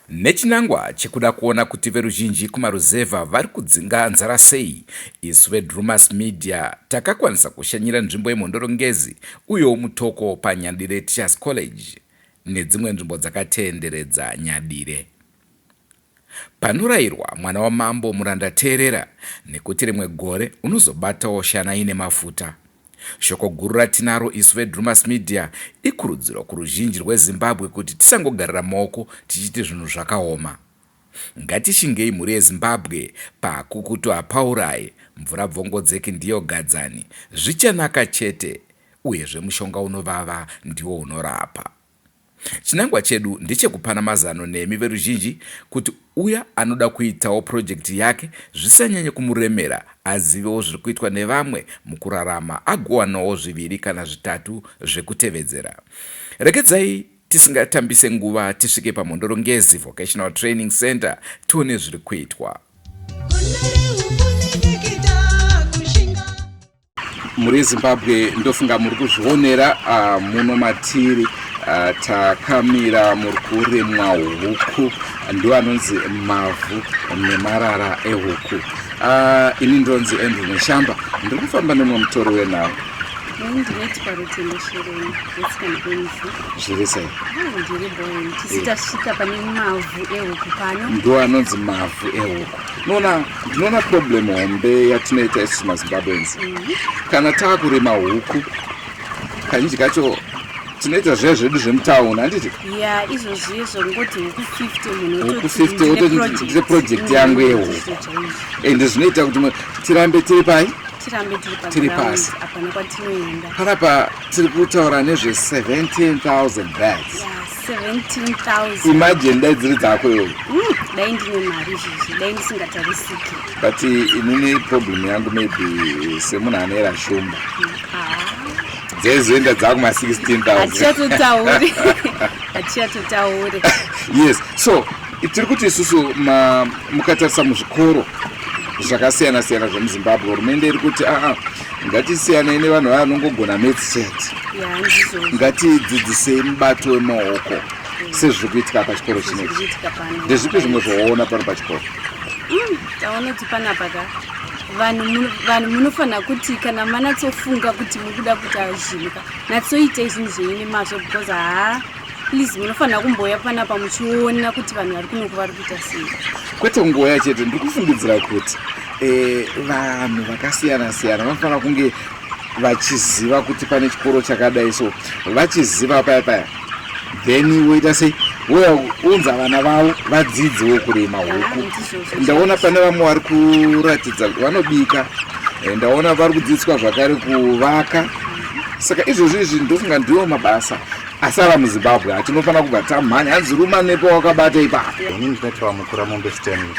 Nechinangwa chekuda kuona kuti veruzhinji kumaruzevha vari kudzinga nzara sei, isu veDrewmas Media takakwanisa kushanyira nzvimbo yeMhondoro Ngezi uyewo Mutoko paNyadire Teachers College nedzimwe nzvimbo dzakatenderedza Nyadire. Panorayirwa mwana wamambo muranda teerera nekuti rimwe gore unozobatawo shana ine mafuta. Shoko guru ratinaro isu veDrewmas Media ikurudziro kuruzhinji rweZimbabwe kuti tisangogarira maoko tichiti zvinhu zvakaoma. Ngatishingei mhuri yeZimbabwe, pakukutu hapauraye, mvura bvongodzeki ndiyo gadzani, zvichanaka chete uyezve mushonga unovava ndiwo unorapa. Chinangwa chedu ndechekupana mazano nemi veruzhinji kuti uya anoda kuitawo purojekiti yake zvisanyanye kumuremera azivewo zviri kuitwa nevamwe mukurarama agowanawo zviviri kana zvitatu zvekutevedzera. Regedzai tisingatambise nguva tisvike paMhondoro Ngezi Vocational Training Center tione zviri kuitwa. mhuri yezimbabwe ndofunga muri kuzvionera uh, muno matiri uh, takamira muri kuremwa huku ndo anonzi mavhu nemarara ehuku uh, ini ndonzi andrew neshamba ndiri kufamba nemwe mutori wenhau zviri sei ndo anonzi mavhu ehuku Nona, ndinoona problem hombe yatinoita isu mazimbabweans kana taakurima huku kazhinji kacho tinoita zviya zvedu zvemutaun handiti ya izvozvi izvo ngoti huku 50 munhu huku 50 wototi ndine project yangu yehuku ende zvinoita kuti tirambe tiri pai tirambe tiri pasi hapana kwatinoenda panapa tiri kutaura nezve 17000 bags yeah. 17,000. Imagine dai dziri dzako iwe. Mm, dai ndine mari izvizvi, dai ndisingatarisiki. But inini problem yangu maybe semunhu anoera shumba. Mm, ah. Dzaizoenda dzako ma 16,000. Hatichatotauri. Hatichatotauri. Yes. So, tiri kuti isusu mukatarisa muzvikoro zvakasiyana siyana zvemuzimbabwe hurumende iri kuti aa ah, ah, Ngatisiyanei nevanhu vaya vanongogona maths chete. Yeah, ndizvo. Ngatidzidzisei mubato wemaoko sezviri kuitika pachikoro chinechi. Zvirikuitika pano. Ndezvipi zvimwe zvawaona pano pachikoro? Mm, taona kuti panapa ka vanhu muno- vanhu munofanira kuti kana manatsofunga kuti mukuda kuita zvinhu ka natsoitei zvinhu zvenyu nemazvo because haa please munofanira kumboya panapa muchiona kuti vanhu vari kunoku vari kuita sei kwete kungoya chete ndiri kufungidzira kuti eh, vanhu vakasiyana siyana vanofanira kunge vachiziva kuti pane chikoro chakadai so vachiziva paya paya then woita sei wounza vana vavo vadzidzewo kurima huku ndaona pane vamwe vari kuratidza vanobika eh, ndaona vari kudzidziswa zvakare kuvaka saka izvozvo izvi ndofunga ndiwo mabasa asi ava muzimbabwe hatinofanira kubva tamhanya hanzi ruma nepo wakabata ipapo ini ndinotaura mukura mombe stanley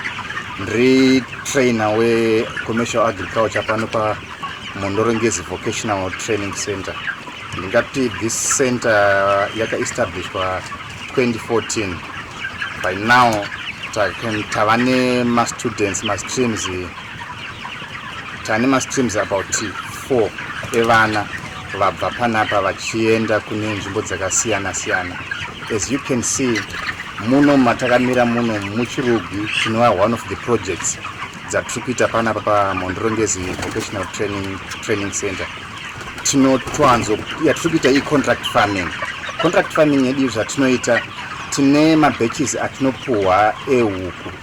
ndiri trainer wecommercial agriculture pano pamondorongezi vocational training center ndingati this center yakaestablishwa 2014 by now tava nemastudents mastreams ta tane mastreams about 4 evana vabva panapa vachienda kune nzvimbo dzakasiyana siyana as you can see muno matakamira muno muchirugwi tinova one of the projects dzatiri kuita panapa pamhondorongezi vocational training, training center tinotoanzo yatiri kuita icontract farming contract farming yedu zvatinoita tine mabatches atinopuhwa ehuku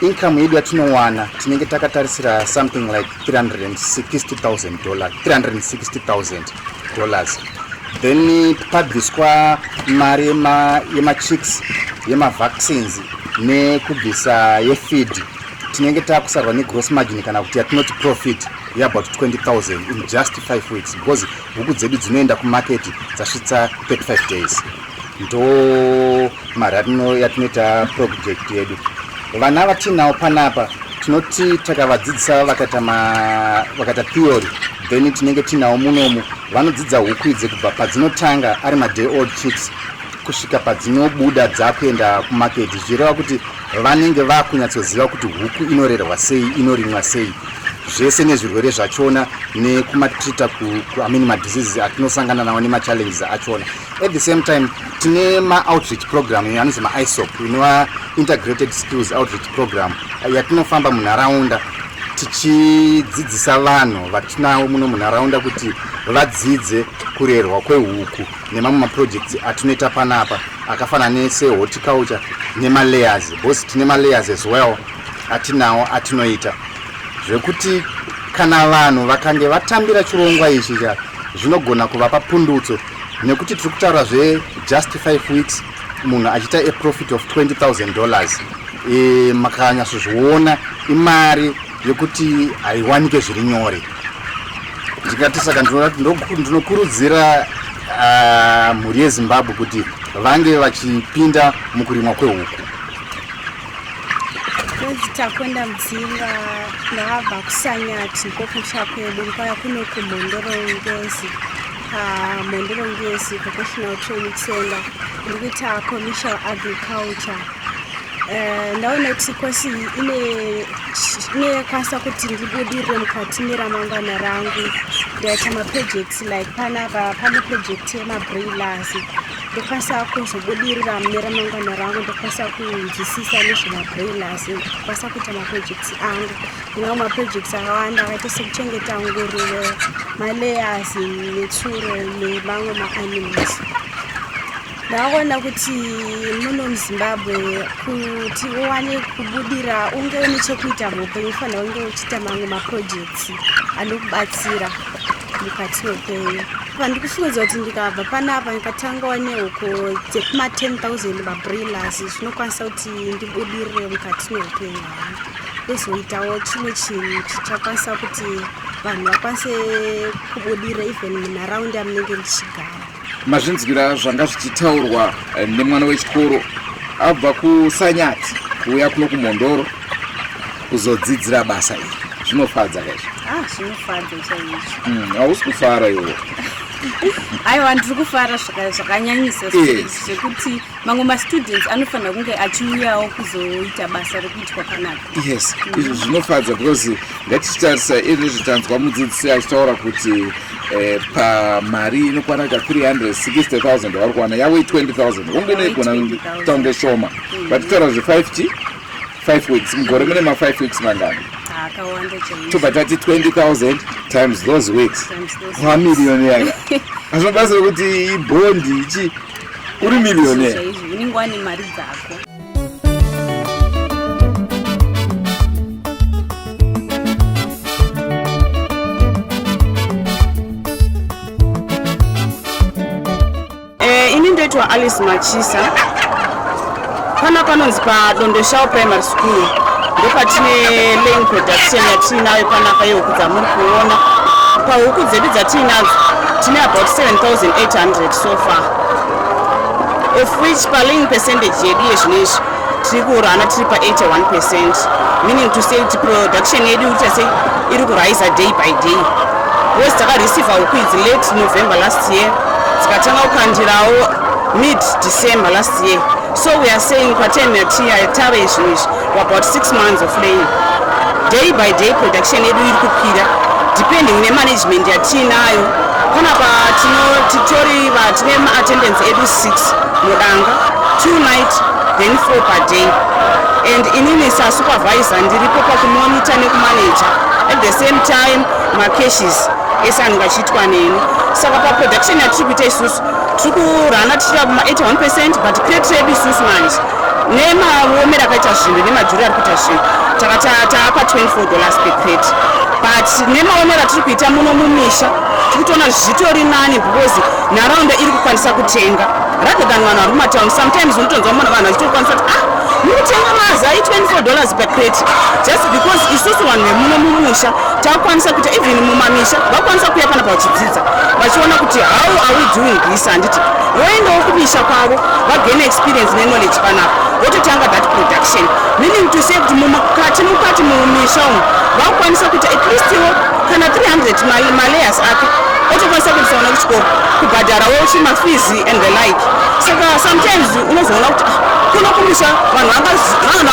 Income yedu yatinowana tinenge takatarisira something like 360000 dollars 360000 dollars then pabviswa mari yemachicks yemavaccines nekubvisa yefeed tinenge takusarwa negross margin kana kuti yatinoti profit yeabout 20000 in just 5 weeks because huku dzedu dzinoenda kumarket dzasvitsa 35 days ndo mari yatino yatinoita project yedu vana vatiinawo panapa tinoti takavadzidzisa vakaita ma- vakaita theory then tinenge tiinawo munomu vanodzidza huku idzi kubva padzinotanga ari maday old chicks kusvika padzinobuda dzakuenda kumarket zvireva kuti vanenge vakunyatsoziva kuti huku inorerwa sei inorimwa sei zvese nezvirwere zvachona nekumatrita kuamini madiseases atinosangana nawo nemachallenges achona at the same time tine maoutreach program iyo anonzi maisop inova integrated skills outreach program yatinofamba munharaunda tichidzidzisa vanhu vatinawo muno munharaunda kuti vadzidze kurerwa kwehuku nemamwe maprojects atinoita panapa akafanana nesehorticulture nemalayers because tine malayers as well atinawo atinoita zvekuti kana vanhu vakange vatambira chirongwa ichi cha zvinogona kuvapa pundutso nekuti tiri kutaura zvejust 5 weeks munhu achiita a profit of 20000 dollars e, makanyatsozviona imari yekuti haiwanike zviri nyore ndikati saka ndinokurudzira uh, mhuri yezimbabwe kuti vange vachipinda mukurimwa kwehuku ndozitakwenda mudzinga ndakabva kusanyati ndikokutsva kwedu ndikauya kuno kumhondoro ngezi mandiro ngesi vocational training center ndiri kuita commercial agriculture eh, ndaona kuti kosi inekwanisa kuti ndibudirire mukati meramangwana rangu ndaita maprojects like panapa pane project yemabrailers ndokwanisa kuzobudirira mune ramangwana rangu ndokwanisa kunzwisisa nezvemabrailers ndokwanisa kuita maprojects angu Kune mamwe maprojects akawanda akaita sekuchengeta nguruve, malayers, netsuro nemamwe maanimals. Ndakaona kuti muno muZimbabwe kuti uwane kubudira unge une chekuita muupenyu ufanira unge uchiita mamwe maprojects anokubatsira mukati meupenyu pandiri kufungidzira kuti ndikabva panapa ndikatangawo nehuko dzekuma 10 000 mabrillas zvinokwanisa kuti ndibudirire mukati meupenyu ndozoitawo chimwe chinhu chichakwanisa kuti vanhu vakwanise kubudira even munharaunda yamunenge ndichigara mazvinzwira zvanga zvichitaurwa eh, nemwana wechikoro abva kusanyati kuuya kuno kumhondoro kuzodzidzira basa iri zvinofadza kaizvo ah, zvinofadza chaizvo hmm, hausi kufara iwo aiwa ndiri kufara zvakanyanyisa zvekuti mamwe mastudents anofanira kunge achiuyawo kuzoita basa rekuitwa panapa yes mm. izvo zvinofadza because ngatichitarisa izvezvi tanzwa mudzidzisi achitaura kuti eh, pamari inokwana ka 360 000 yavari kuwana yavo i20 000 onge neigona tange shoma mm. but taura zve 5 t 5 weeks mugore mune ma 5 weeks mangani tobva tati 20 000 times those weeks kwamirioni yaka azvinobatsira kuti ibondi ichi uri millionaire chaizvo unenge wane mari dzako Eh, ini ndoitwa alice machisa Pana panonzi paDondoshawo Primary School ndopatine lane production yatiinayo panapa yehuku dzamuri kuona. Pahuku dzedu dzatiinadzo tine about 7800 so far of which palane percentage yedu yezvino izvi tiri kuurana tiri pa81 percent meaning to say kuti production yedu ita sei iri kuriser day by day bcause takareceiva huku idzi late november last year dzikatanga kukandirawo mid december last Yeah. So we are saying Quaternion Tia Tara is about six months of laying. Day by day production yedu iri kukwira depending ne management yatiinayo panapa titori tine maattendance edu six mudanga two night then four per day and inini sasupervisor ndiripo pakumonita nekumanaja at the same time macashes ese anenge achiitwa neni saka paproduction yatiri kuita isusu tiri kurana tichiita kuma 81 percent but crate redu isusu manje nemavomero akaita zvinhu nemajuri ari kuita zvinhu takaapa 24 dollars per crate but nemaomero atiri kuita muno mumisha tiri kutoona zvitori nani because nharaunda iri kukwanisa kutenga rather than vanhu vari mumatown sometimes unotonzwa mona vanhu vachitokwanisa kuti ah mukutenga mazai 24 dollars per crate just because isusu vanhu vemuno mumusha takukwanisa kuita even mumamisha vakwanisa kuya panapa vachidzidza vachiona kuti how are we doing this handiti voendawo kumisha kwavo vagain experience neknowledge panapa vototanga that production meaning to say kuti mukati mukati mumisha umu vakukwanisa kuti at least iwo kana 300 malayers ake otokwanisa kuendesa vana kuchikoro kubhadharawo chimafizi and the like saka sometimes unozoona kuti ah, kuno kumisha vanhu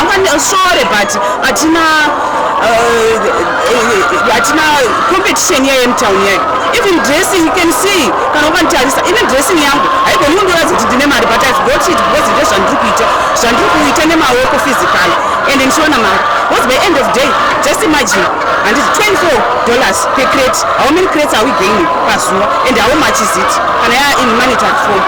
vangasore but hatina uh, hatina competition yaye mutown yaye even dressing you can see kana ukanditarisa ine dressing yangu haigoni kundiratidza kuti ndine mari but ive got it because ndo zvandiri kuita zvandiri kuita nemaoko physical and ndichiona mari because by end of day just imagine handiti 24 dollars per crate how many crates are we gaining pazuva and how much is it kana yaa in monetary form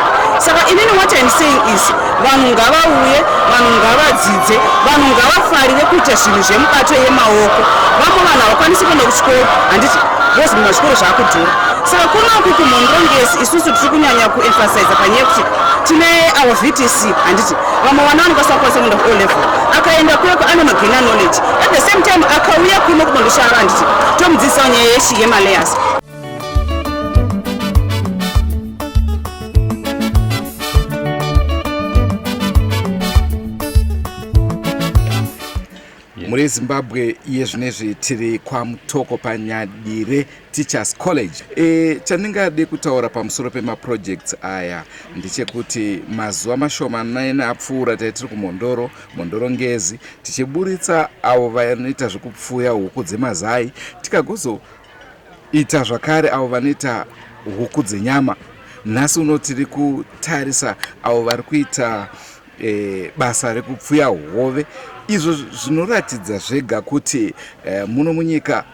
saka inini what im saying is vanhu ngavauye vanhu ngavadzidze vanhu ngavafarire kuita zvinhu zvemubato yemaoko vamwe vanhu havakwanisi kuenda kuchikoro handiti bcause mumazvikoro zvaakudhura saka kunoku kumhondongesi isusu tiri kunyanya kuemphasiza panyaya yekuti tine our vtc handiti vamwe vana vanokwanisa kukwanisa kuenda kuo level akaenda kuyeko ane magena knowledge at the same time akauya kuno kunondo shava handiti tomudzidzisawo nyaya yechi yemaleyers mhuri yezimbabwe iye zvinezvi tiri kwamutoko panyadire teachers college e, chandingade kutaura pamusoro pemaprojects aya ndechekuti mazuva mashoma naina apfuura taitiri kumhondoro mhondoro ngezi tichiburitsa avo vanoita zvekupfuya huku dzemazai tikagozo Ita zvakare avo vanoita huku dzenyama. Nhasi uno tiri kutarisa avo vari kuita e, basa rekupfuya hove. Izvo zvinoratidza zvega kuti e, muno munyika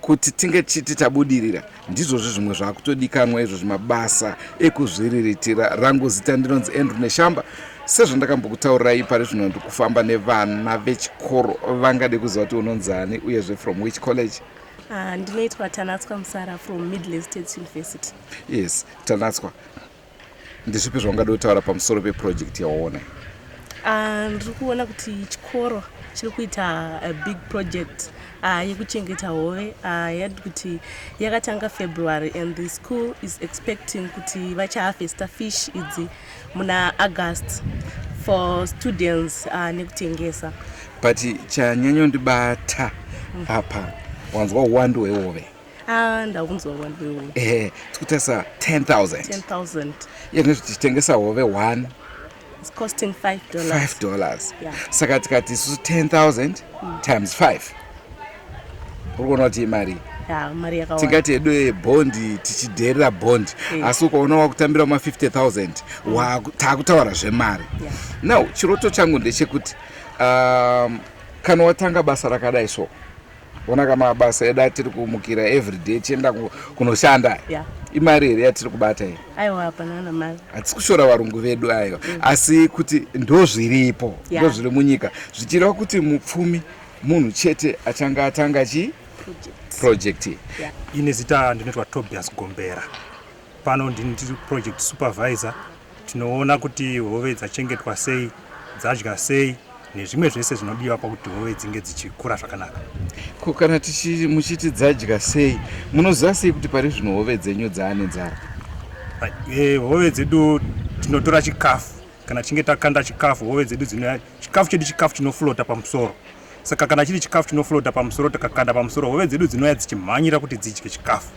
kuti tinge tichiti tabudirira ndizvozvi zvimwe zvaakutodikanwa izvo zvimabasa ekuzviriritira rangu zita ndinonzi andrew neshamba sezvandakambokutaurirai pari zvino ndikufamba nevana vechikoro vangade kuziva kuti unonzani uyezve from which college Ah, ndinoitwa tanatswa musara from midlands states university yes tanatswa ndezvipi zvaungada kutaura pamusoro peproject yawaona ah, ndiri kuona kuti chikoro chiri kuita a big project ah, yekuchengeta hove yadi kuti yakatanga february and the school is expecting kuti vachaharvesta fish idzi muna august for students uh, nekutengesa but chanyanyondibata mm. apa wanzwa uwandu hwehove ah, ndakunzwa uwandu hwehove ehe tikutarisa 10000 iye tinoti tichitengesa hove one costing five dollars, five dollars. Yeah. saka tikati isusu 10000 mm. times five uri kuona kuti imari tingati hedu yebhondi tichidheerera bhondi eh. asi ukaona wakutambira ma 50000 mm. taakutaura zvemari now chiroto changu ndechekuti um, kana watanga basa rakadai so ona ka mabasa edu atiri kumukira everyday tichienda kunoshanda yeah. imari here yatiri kubata iyi hatisi kushora varungu vedu ayo mm. asi kuti ndozviripo yeah. ndozviri munyika zvichireva kuti mupfumi munhu chete achange atanga chi project yeah. ine zita ndinoitwa tobias gombera pano ndini tiri project supervisor tinoona kuti hove dzachengetwa sei dzadya sei nezvimwe zvese zvinodiwa pakuti hove dzinge dzichikura zvakanaka ko kana muchiti dzadya sei munoziva sei kuti pari zvino hove dzenyu dzaane nzara eh, hove dzedu tinotora chikafu kana tichinge takanda chikafu hove dzedu Chikafu chedu chikafu chinoflota pamusoro, saka kana chiri chikafu chinoflota pamusoro, takakanda pamusoro, hove dzedu dzinouya dzichimhanyira kuti dzidye chikafu.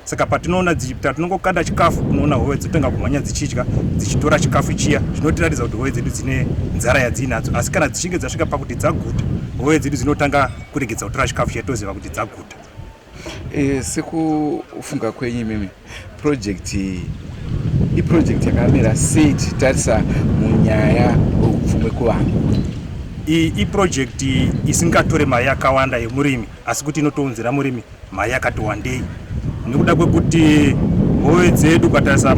Saka patinoona dzichipita, tinongokanda chikafu, unoona hove dzotanga kumhanya dzichidya, dzichitora chikafu chiya, zvinotiratidza kuti hove dzedu dzine nzara yadziinadzo. Asi kana dzichinge dzasvika pakuti dzaguta, hove dzedu dzinotanga kuregedza kutora chikafu chiya, toziva kuti dzaguta. E, sekufunga kwenyu imimi project iyi iproject yakamira sei tichitarisa munyaya upfumi kuvanhu iyi iproject isingatore mari yakawanda yemurimi asi kuti inotounzira murimi mari yakati wandei nekuda kwekuti hove dzedu ukatarisa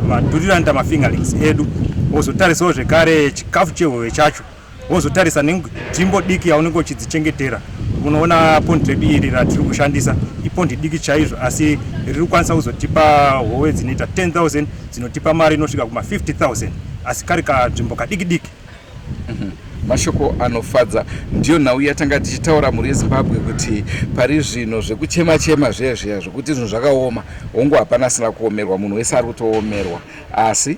madhuriranda mafingerlings edu wozotarisawo zvekare chikafu chehove chacho wozotarisa nenzvimbo diki yaunenge uchidzichengetera unoona pondi redu iri ratiri kushandisa ipondi diki chaizvo asi riri kukwanisa kuzotipa hove dzinoita 10000 dzinotipa mari inosvika kuma 50000 asi kari kanzvimbo kadiki diki mhm. mashoko anofadza ndiyo nhau yatanga tichitaura mhuri yezimbabwe kuti pari zvino zvekuchema chema zviya zviya zvekuti zvinhu zvakaoma hongu hapana asina kuomerwa munhu wese ari kutoomerwa asi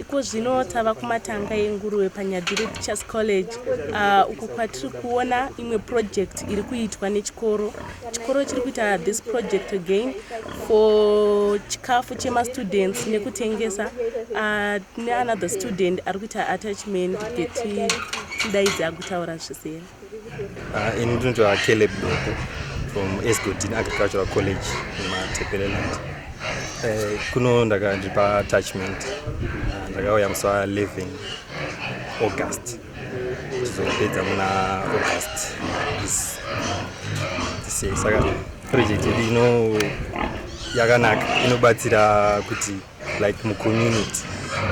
Iko zvino tava kumatanga enguruve paNyadire Teachers College uh, uko kwatiri kuona imwe project iri kuitwa nechikoro. Chikoro chiri kuita this project again for chikafu chemastudents nekutengesa uh, neanother student ari kuita attachment geti tidaidzi agutaura zvisera. Uh, ini ndinotaura Caleb Doko from Esgotin Agricultural College muMatepeleland. Uh, eh, kuno ndaka ndiri paatachment uh, ndakauya musi wa 11 August tizopedza muna August this, this year saka project yedu ino yakanaka inobatsira kuti like mucommunity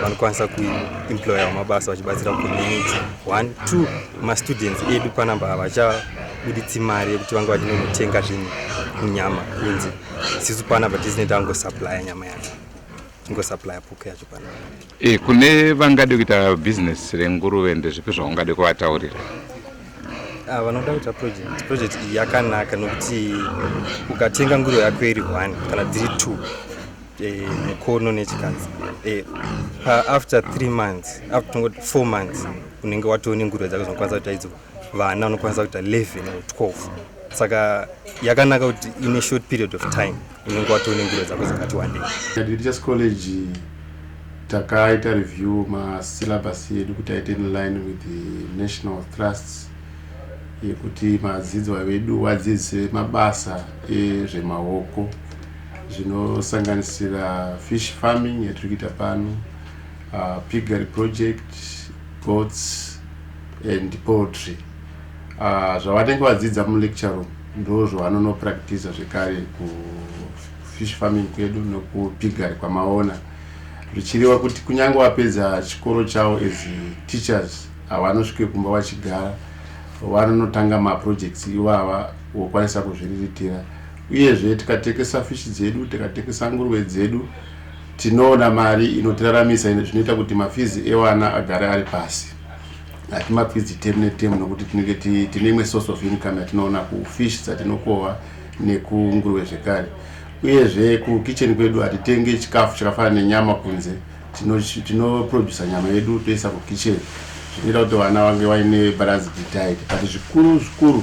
vanokwanisa kuemploya vamabasa vachibatsira community one two mastudents edu panamba havachabuditsi mari yekuti vange vachinonotenga zvinhu munyama kunzi sisu panapa tisineta angosuplya nyama yacho ingosuplya puku yacho panapa e, kune vangade kuita business renguruve ndezvipi zvaungade kuvataurira ah, vanoda kuita project project iyi yakanaka nokuti ukatenga nguruve yako iri one kana dziri two eh, mukono nechikanzi eh, after three months after tongoti four months unenge watoo nenguruve dzako dzinokwanisa kuita idzo vana unokwanisa kuita 11 or 12 saka yakanaka kuti ine short period of time unenge watoo nenguruve dzako dzakati wandei just college takaita review masyllabus edu kuti aite in line with the national trusts yekuti madzidzwa vedu vadzidzise mabasa ezvemaoko zvinosanganisira fish farming yatiri kuita pano uh, piggery project goats and poultry uh, zvavanenge vadzidza mulecture room ndo zvavanonopractisa zvekare kufish farming kwedu nokupiggery kwamaona zvichiriwa kuti kunyange vapedza chikoro chavo as teachers havanosvike kumba vachigara vanonotanga maprojects ivava vokwanisa kuzviriritira Uyezve tikatengesa fish dzedu, tikatengesa nguruve dzedu tinoona mari inotiraramisa zvinoita kuti mafizi ewana agare ari pasi hati mafizi temu netemu nokuti tinenge tine imwe source of income yatinoona kufish dzatinokova nekunguruve zvekare uyezve kukitchen kwedu hatitenge chikafu chakafanana nenyama kunze tinoproducer nyama yedu toisa kukitchen zvinoita kuti vana vange vaine balanced diet but zvikuru zvikuru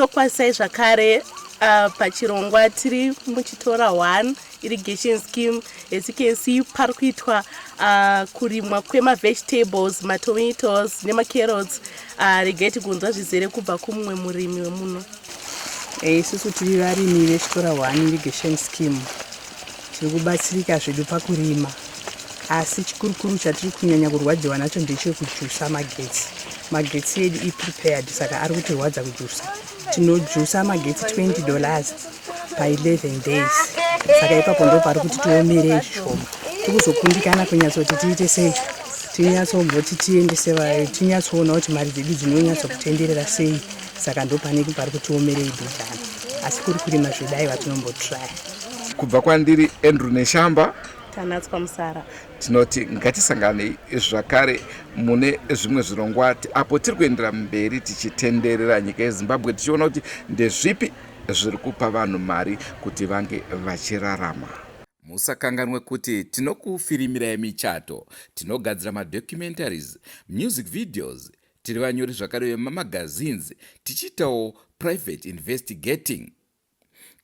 tokwazisai zvakare uh, pachirongwa tiri muchitora one irrigation scheme as you can see pari kuitwa uh, kurimwa kwemavegetables matomatoes nemacarrots uh, regai tigonzwa zvizere kubva kumumwe murimi wemuno eh, isusu tiri varimi vechitora one irrigation scheme Tiri kubatsirika zvedu pakurima asi chikurukuru chatiri kunyanya kurwadziwa nacho ndechekujusa magetsi. Magetsi edu iprepared saka ari kutirwadza kujusa. Tinojusa magetsi 20 dollars pa 11 days saka ipapo ndo pari kuti tiomerei zvishoma. Tiri kuzokundikana kunyatsoti tiite sei tinyatsogoti tiendese vayo tinyatsoona kuti mari dzedu dzinonyatsa kutenderera sei saka ndopane pari kutiomerei bhidhana asi kuri kurima zvedai vatinombotraya kubva kwandiri andrew neshamba tanatswa musara tinoti ngatisanganei zvakare mune zvimwe zvirongwa apo tiri kuendera mberi tichitenderera nyika yezimbabwe tichiona kuti ndezvipi zviri kupa vanhu mari kuti vange vachirarama musakanganwe kuti tinokufirimirai michato tinogadzira madocumentaries music videos tiri vanyori zvakare vemamagazines tichiitawo private investigating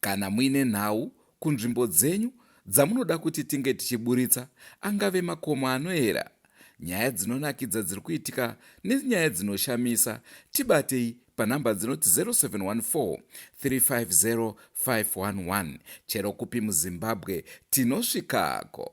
Kana muine nhau kunzvimbo dzenyu dzamunoda kuti tinge tichiburitsa, angave makomo anoera, nyaya dzinonakidza dziri kuitika nenyaya dzinoshamisa, tibatei panhamba dzinoti 0714 350 511 chero kupi muzimbabwe tinosvikako.